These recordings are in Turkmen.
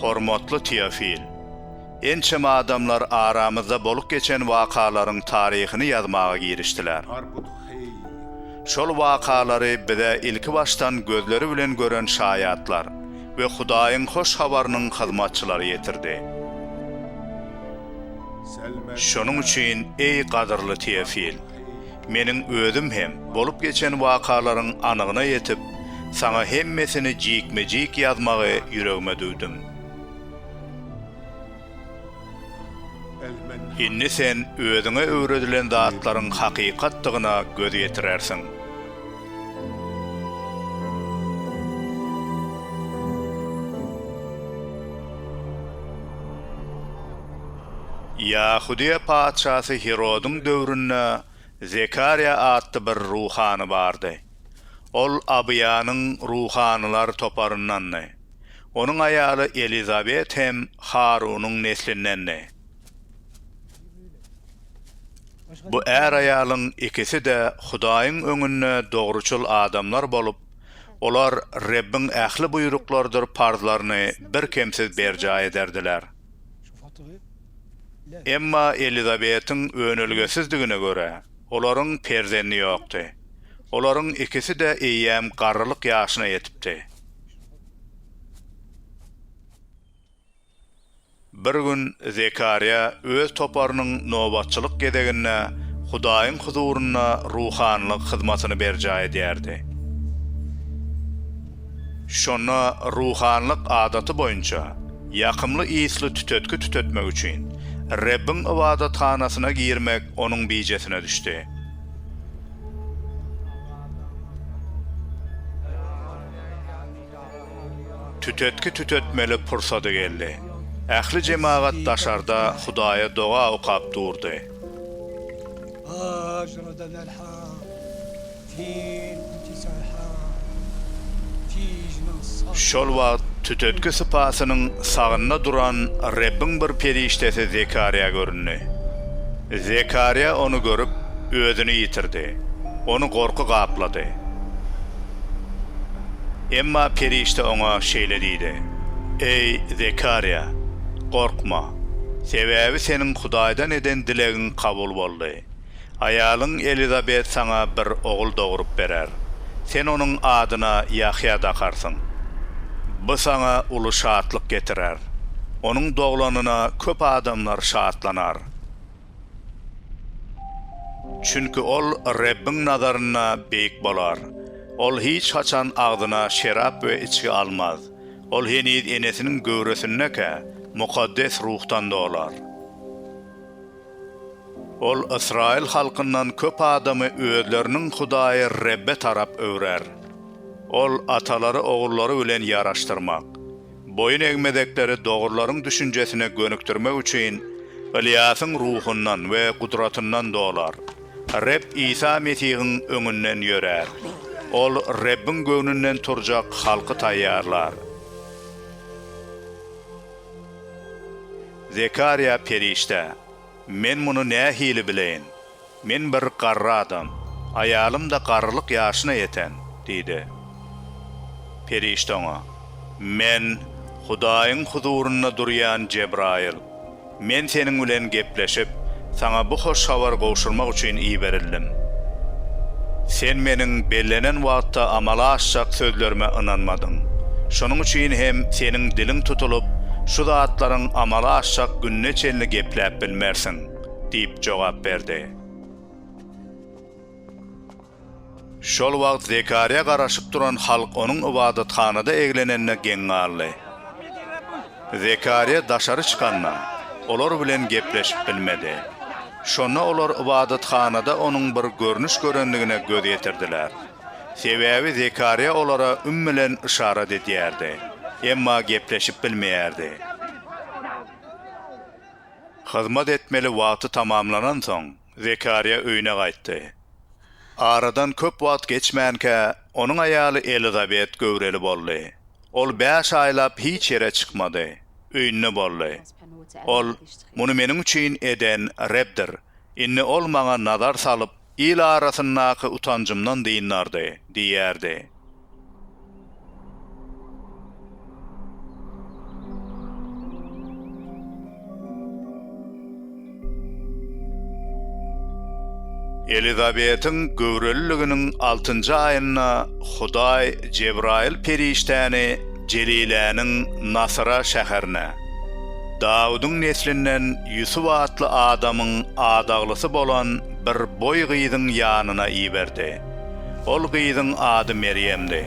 Hormatly Teofil! Ençeme adamlar aramyzda bolup geçen wakalaryň taryhyny ýazmaga girişdiler. Şol wakalary bize ilkibaşdan gözleri bilen gören şaýatlar we Hudaýyň hoş habarynyň hyzmatçylary ýetirdi. Şonuň üçin, eý, gadyrly Teofil, meniň özüm hem, bolup geçen wakalaryň anygyna ýetip, saňa hemmesini jikme-jik ýazmagy ýüregime düwdüm. Indi sen özüňe öwredilen zatlaryň hakykatdygyna göz ýetirersiň. Ýahudyýa patyşasy Hirodyň döwründe Zekarýa atly bir ruhany bardy. Ol Abyýanyň ruhanylar toparyndandy. Onuň aýaly Elizabet hem Harunyň neslindendi. Bu är-aýalyň ikisi-de Hudaýyň öňünde dogruçyl adamlar bolup, olar Rebbiň ähli buýruklarydyr parzlaryny birkemsiz berjaý ederdiler. Emma Elizabetiň önelgesizdigine görä, olaryň perzendi ýokdy. Olaryň ikisi-de eýýäm garrylyk ýaşyna ýetipdi. Bir gün Zekarýa öz toparynyň nobatçylyk gezeginde Hudaýyň huzurynda ruhanylyk hyzmatyny berjaý edýärdi. Şonda ruhanylyk adaty boýunça ýakymly ysly tütetgi tütetmek üçin Rebbiň ybadathanasyna girmek onuň bijesine düşdi. Tütetgi tütetmeli pursady geldi. Ähli jemagat daşarda Hudaýa doga okap durdy. Şol wagt tütetgi sypasynyň sagynda duran Rebbiň bir perişdesi Zekarýa göründi. Zekarýa ony görüp, özüni ýitirdi. Ony gorky gaplady. Emma perişde oňa şeýle diýdi, Eý, Zekarýa, gorkma. Sebäbi seniň Hudaýdan eden dilegiň kabul boldy. Aýalyň Elizabet saňa bir ogul dogrup berer. Sen onuň adyna Ýahýa dakarsyň. Bu saňa uly şatlyk getirer. Onuň doglanyna köp adamlar şatlanar. Çünki ol Rebbiň nazarynda beýik bolar. Ol hiç haçan agzyna şerap we içgi almaz. Ol heniz enesiniň göwresindäkä, mukaddes ruhdan dolar. Ol ysraýyl halkyndan köp adamy özleriniň Hudaýy Rebbe tarap öwrer. Ol atalary ogrullary bilen ýaraşdyrmak, boýun egmezekleri dogrularyň düşünjesine gönükdirmek üçin Ylýasyň ruhundan we gudratyndan dolar. Reb Isa Mesihiň öňünden ýörär. Ol Rebbiň göwnünden turjak halky taýýarlar. Zekarýa perişde, Men muny nähili bileýin? Men bir garry adam, aýalym-da garrylyk ýaşyna ýeten diýdi. Perişde oňa, Men Hudaýyň huzurynda durýan Jebraýyl. Men seniň bilen gepleşip, Saňa bu hoş habary gowşurmak üçin iberildim. Sen Meniň bellenen wagtda amala aşjak sözlerime ynanmadyň. Şonuň üçin hem seniň diliň tutulyp, şu zatlaryň amala aşjak gününe çenli gepläp bilmersiň diýip jogap berdi. Şol wagt Zekarýa garaşyp duran halk onuň ybadathanada eglenenine geň galdy. Zekarýa daşary çykanda, olar bilen gepleşip bilmedi. Şonda olar ybadathanada onuň bir görnüş görendigine göz ýetirdiler. Sebäbi Zekarýa olara üm bilen yşarat edýärdi, emma gepleşip bilmeýärdi. Hyzmat etmeli wagty tamamlanansoň, Zekarýa öýüne gaýtdy. Aradan köp wagt geçmänkä, onuň aýaly Elizabet göwreli boldy. Ol bäş aýlap hiç ýere çykmady. Öýünde boldy. Ol, Muny meniň üçin eden Rebdir. Indi Ol maňa nazar salyp, il arasyndaky utanjymdan dyndardy diýerdi. Elizabetiň göwreliliginiň altynjy aýynda Hudaý Jebraýyl perişdäni Jeliläniň Nasyra şäherine, Dawudyň neslinden Ýusup atly adamyň adaglysy bolan bir boý gyzyň ýanyna iberdi. Ol gyzyň ady Merýemdi.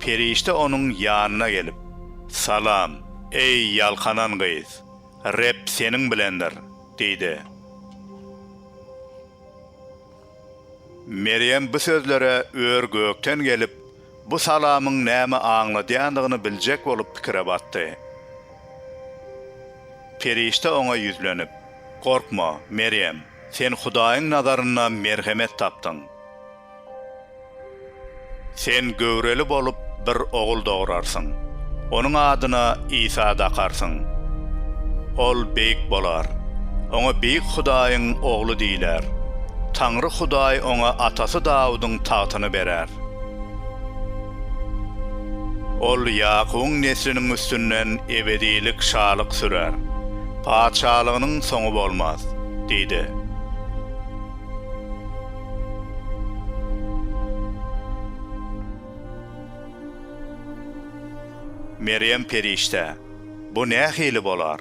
Perişde onuň ýanyna gelip, Salam, eý, ýalkanan gyz! Reb seniň bilendir! diýdi. Merýem bu sözlere ör-gökden gelip, bu salamyň näme aňladýandygyny biljek bolup pikire batdy. Perişde oňa ýüzlenip, Gorkma, Merýem, sen Hudaýyň nazarynda merhemet tapdyň. Sen göwreli bolup, bir ogul dograrsyň. Onuň adyna Isa dakarsyň. Ol beýik bolar. Oňa Beýik Hudaýyň Ogly diýiler. Taňry Hudaý oňa atasy Dawudyň tagtyny berer. Ol Ýakubyň nesliniň üstünden ebedilik şalyk sürer. Patyşalygynyň soňy bolmaz diýdi. Merýem perişde, Bu nähili bolar?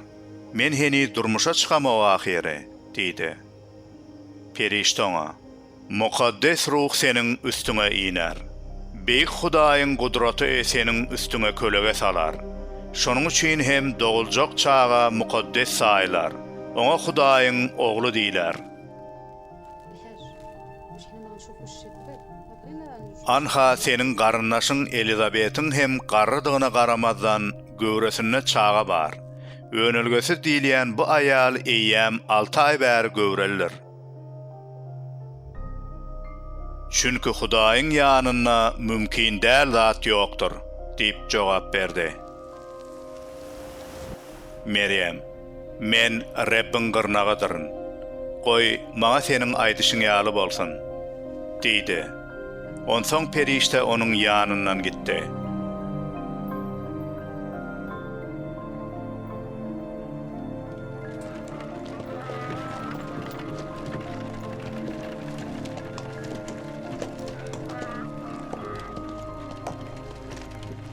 Men heniz durmuşa çykamok ahyry, diýdi. Perişde oňa, Mukaddes Ruh seniň üstüňe iner. Beýik Hudaýyň gudraty seniň üstüňe kölege salar. Şonuň üçin hem doguljak çaga mukaddes saýylar, oňa Hudaýyň Ogly diýler. Anha seniň garyndaşyň Elizabetiň hem garrydygyna garamazdan, göwresinde çaga bar. Önelgesiz diýilýän bu aýal eýýäm alty aý bäri göwrelidir. Çünki Hudaýyň ýanynda mümkin däl zat ýokdur, diýip jogap berdi. Merýem, Men Rebbiň gyrnagydyryn. Goý, maňa seniň aýdyşyň ýaly bolsun! diýdi. Onsoň perişde onuň ýanyndan gitdi.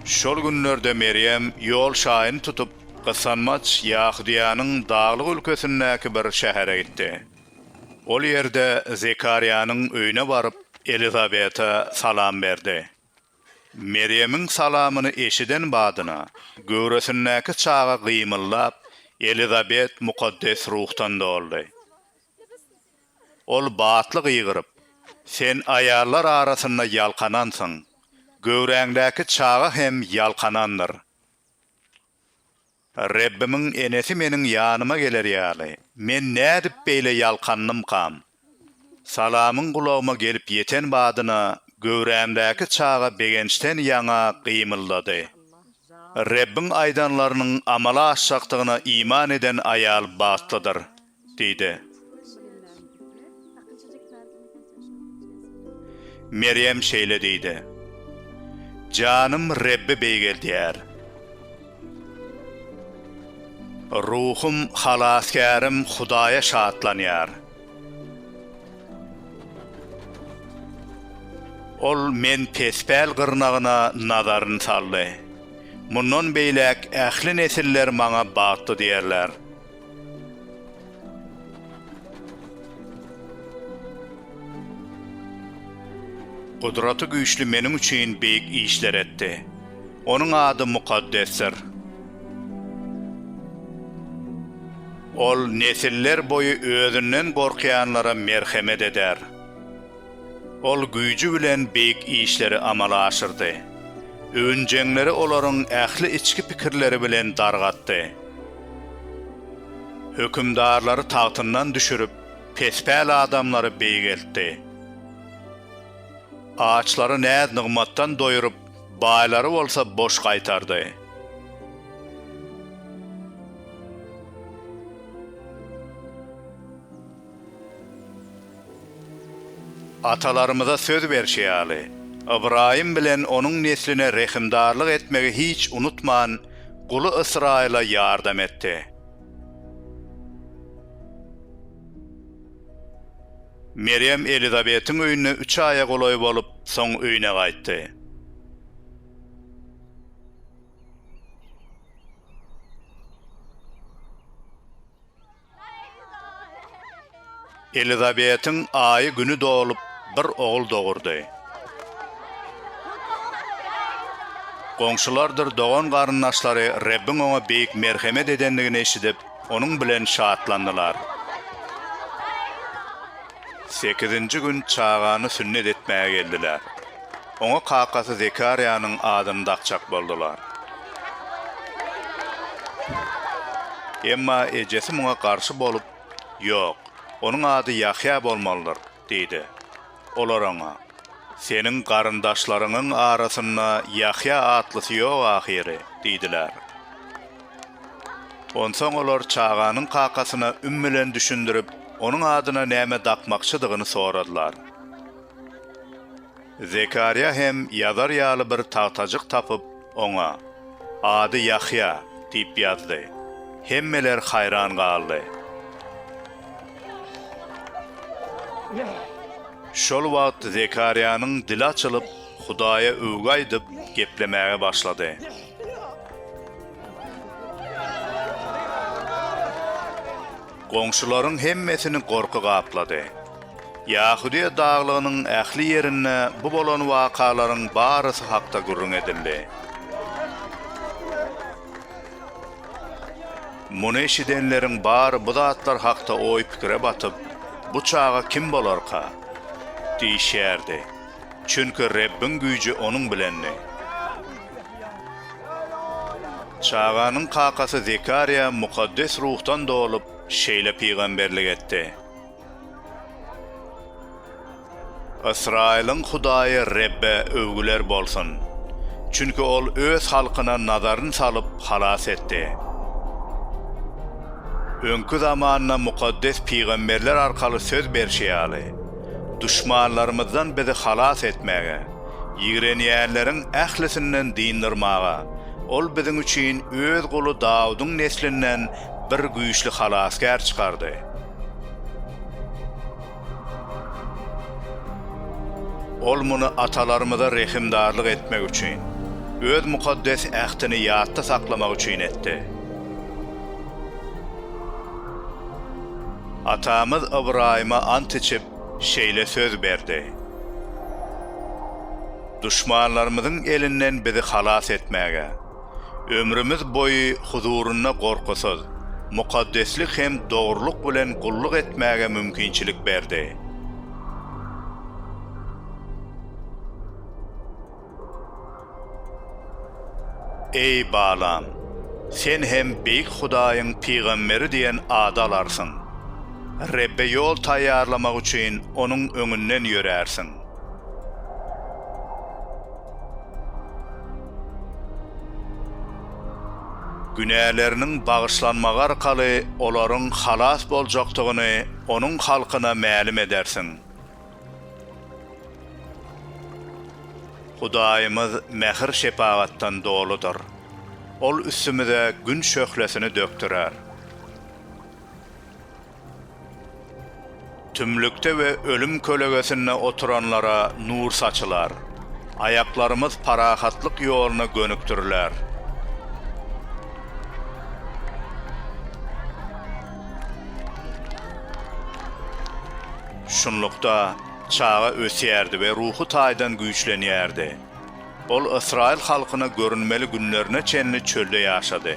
Şol günlerde Merýem ýol şaýyny tutup, gysanmaç Ýahudyýanyň daglyk ülkesindäki bir şähere gitdi. Ol ýerde Zekarýanyň öýüne baryp, Elizabete salam berdi. Merýemiň salamyny eşiden badyna, göwresindäki çaga gymyldap, Elizabet mukaddes ruhdan doldy. Ol batly gygyryp, Sen aýallar arasynda ýalkanansyň, göwräňdäki çaga hem ýalkanandyr. Rebbimiň enesi meniň ýanyma geler ýaly, men nädip beýle ýalkandymkam? Salamyň gulagyma gelip ýeten badyna, göwrämdäki çaga begençden ýaňa gymyldady. Rebbiň aýdanlarynyň amala aşjakdygyna iman eden aýal bagtlydyr. Diýdi. Merýem şeýle diýdi. Janym Rebbi beýgeldýär. Ruhum Halasgärim Hudaýa şatlanýar. Ol men pespäl gyrnagyna nazaryny saldy. Mundan beýläk ähli nesiller maňa bagtly diýerler. Gudraty Güýçli meniň üçin beýik işler etdi. Onuň ady mukaddesdir. Ol nesillerboýy özünden gorkýanlara merhemet eder. Ol güýji bilen beýik işleri amala aşyrdy. Öwünjeňleri olaryň ähli içki pikirleri bilen dargatdy. Hökümdarlary tagtyndan düşürip, pespäl adamlary beýgeltdi. Açlary näz-nygmatdan doýuryp, baýlary bolsa boş gaýtardy. Atalarymyza söz berşi ýaly, Ybraýym bilen onuň nesline rehimdarlyk etmegi hiç unutman, guly Ysraýyla ýardam etdi. Merýem Elizabetiň öýünde üç aýa golaý bolup, soň öýüne gaýtdy. Elizabetiň aýy-güni dolup, bir ogul dogurdy. Goňşulardyr dogan-garyndaşlary Rebbiň oňa beýik merhemet edendigini eşidip, onuň bilen şatlandylar. Sekizinji gün çagany sünnet etmäge geldiler. Oňa kakasy Zekarýanyň adyny dakjak boldular. Emma ejesi muňa garşy bolup, Ýok, onuň ady Ýahýa bolmalydyr diýdi. Olar oňa, Seniň garyndaşlaryňyň arasynda Ýahýa atlysy ýok ahyry diýdiler. Onsoň olar çaganyň kakasyna üm bilen düşündirip, onuň adyna näme dakmakçydygyny soradylar. Zekarýa hem ýazar ýaly bir tagtajyk tapyp, oňa, Ady Ýahýa diýip ýazdy. Hemmeler haýran galdy. Şol wagt Zekarýanyň dili açylyp, Hudaýa öwgi aýdyp, geplemäge başlady. Goňşularyň hemmesini gorky gaplady. Ýahudiýa daglygynyň ähli ýerinde bu bolan wakalaryň barysy hakda gürrüň edildi. Muny eşidenleriň bary bu zatlar hakda oý-pikire batyp, Bu çaga kim bolarka? diýişýärdi. Çünki Rebbiň güýji onuň bilendi. Çaganyň kakasy Zekarýa mukaddes ruhdan dolup, şeýle pygamberlik etdi, Ysraýylyň Hudaýy Rebbe öwgüler bolsun! Çünki Ol Öz halkyna nazaryny salyp, halas etdi. Öňki zamanda mukaddes pygamberler arkaly söz berşi ýaly, duşmanlarymyzdan bizi halas etmäge, ýigrenýänleriň ählisinden dyndermaga, Ol biziň üçin Öz guly Dawudyň neslinden bir güýçli halasgär çykardy. Ol muny atalarymyza rehimdarlyk etmek üçin, Öz mukaddes ähtini ýatda saklamak üçin etdi. Atamyz Ybraýyma ant içip, şeýle söz berdi, Duşmanlarymyzyň elinden bizi halas etmäge, ömrümiz boýy huzurynda gorkusyz, mukaddeslik hem dogrulyk bilen gulluk etmäge mümkinçilik berdi. Eý, balam, sen hem Beýik Hudaýyň pygamberi diýen ady alarsyň. Rebbe ýol taýýarlamak üçin Onuň öňünden ýörärsiň. Günäleriniň bagyşlanmagy arkaly olaryň halas boljakdygyny Onuň halkyna mälim edersiň. Hudaýymyz mähir-şepagatdan doludyr. Ol üstümize Gün şöhlesini dökdürer. Tümlükde we ölüm kölegesinde oturanlara nur saçylar. Aýaklarymyz parahatlyk ýoluna gönükdiriler. Şunlukda, çaga ösýärdi we ruhy taýdan güýçlenýärdi. Ol ysraýyl halkyna görünmeli günlerine çenli çölde ýaşady.